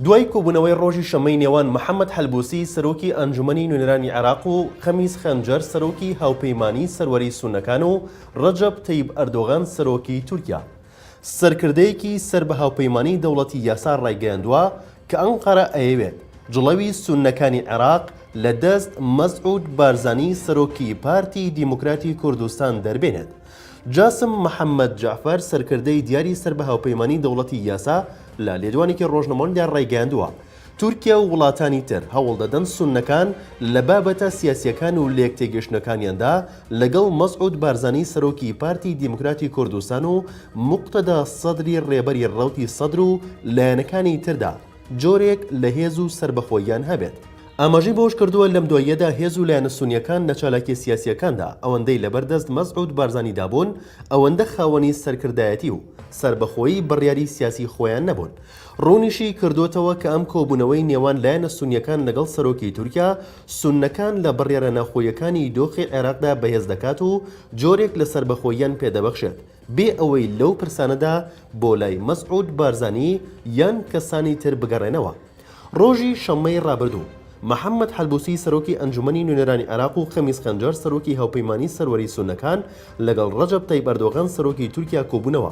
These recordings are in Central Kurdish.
دوای کۆبوونەوەی ڕۆژی شەممەی نێوان محەممەد حەلبوسی سەرۆکی ئەنجومەنی نوێنەرانی عێراق و خەمیس خەنجەر سەرۆکی هاوپەیمانیی سەروەریی سوننەکان و ڕەجەب تەیب ئەردۆغان سەرۆکی تورکیا، سەرکردەیەکی سەر بە هاوپەیمانیی دەوڵەتی یاسا ڕایگەیاندووە کە ئەنقەرە ئەیەوێت جڵەوی سوننەکانی عێراق لە دەست مەسعود بارزانی سەرۆکی پارتی دیموکراتی کوردستان دەربێنێت. جاسم محەممەد جەعفەر سەرکردەی دیاری سەر بە هاوپەیمانیی دەوڵەتی یاسا لە لێدوانێکی ڕۆژنەمەوەیدا ڕایگەیاندووە، تورکیا و وڵاتانی تر هەوڵدەدەن سوننەکان لە بابەتە سیاسییەکان و لێکتێگەیشتنەکانیاندا لەگەڵ مەسعود بارزانی سەرۆکی پارتی دیموکراتی کوردستان و موقتەدا سەدری ڕێبەری ڕەوتی سەدر و لایەنەکانی تردا جۆرێک لە هێز و سەربەخۆییان هەبێت. ئاماژەی بەوەشکردووە، لەم دواییەدا هێز و لایەنە سوننیەکان لە چالاکیە سیاسییەکاندا ئەوەندەی لەبەر دەست مەسعود بارزانیدا بوون، ئەوەندە خاوەنی سەرکردایەتی و سەربەخۆیی بڕیاری سیاسی خۆیان نەبوون، ڕوونیشی کردۆتەوە کە ئەم کۆبوونەوەی نێوان لایەنە سونیەکان لەگەڵ سەرۆکی تورکیا، سوننەکان لە بڕیارە ناخۆییەکانی دۆخی عێراقدا بەهێز دەکات و جۆرێک لە سەربەخۆییان پێدەبەخشێت، بێ ئەوەی لەو پرسانەدا بۆ لای مەسعود بارزانی یان کەسانی تر بگەڕێنەوە. ڕۆژی شەممەی ڕابردوو، محەممەد حەلبوسی سەرۆکی ئەنجومەنی نوێنەرانی عێراق و خەمیس خەنجەر سەرۆکی هاوپەیمانی سەروەری سوننەکان لەگەڵ ڕەجەب تەیب ئەردۆغان سەرۆکی تورکیا کۆبوونەوە،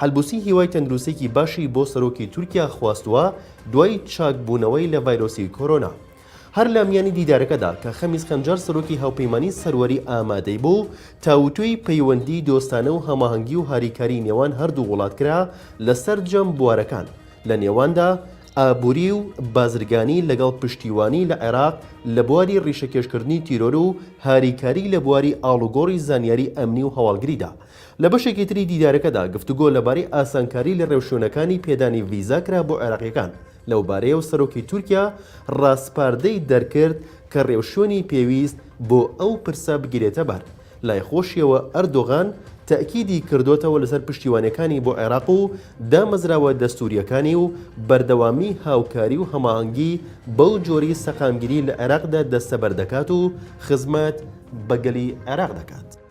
حەلبوسی هیوای تەندروستیی باشی بۆ سەرۆکی تورکیا خواستووە دوای چاکبوونەوەی لە ڤایرۆسی کۆرۆنا. هەر لە میانی دیدارەکەدا کە خەمیس خەنجەر سەرۆکی هاوپەیمانیی سەروەری ئامادەی بوو، تاوتوێی پەیوەندیی دۆستانە و هەماهەنگی و هاریکاریی نێوان هەردوو وڵات کرا لە سەرجەم بوارەکان لە نێواندا ئابووری و بازرگانی لەگەڵ پشتیوانی لە عێراق لە بواری ڕیشەکێشکردنی تیرۆر و هاریکاریی لە بواری ئاڵوگۆڕی زانیاری ئەمنی و هەواڵگریدا لە بەشێکی تری دیدارەکەدا گفتوگۆ لەبارەی ئاسانکاری لە ڕێوشوێنەکانی پێدانی ڤیزا کرا بۆ عێراقییەکان لەو بارەیە و سەرۆکی تورکیا ڕاسپاردەی دەرکرد کە ڕێوشوێنی پێویست بۆ ئەو پرسە بگیرێتە بەر. لای خۆشیەوە ئەردۆغان تەئکیدی کردۆتەوە لەسەر پشتیوانیەکانی بۆ عێراق و دامەزراوە دەستورییەکانی و بەردەوامی هاوکاری و هەماهەنگی بەو جۆری سەقامگیری لە عێراقدا دەستەبەر دەکات و خزمەت بە گەلی عێراق دەکات.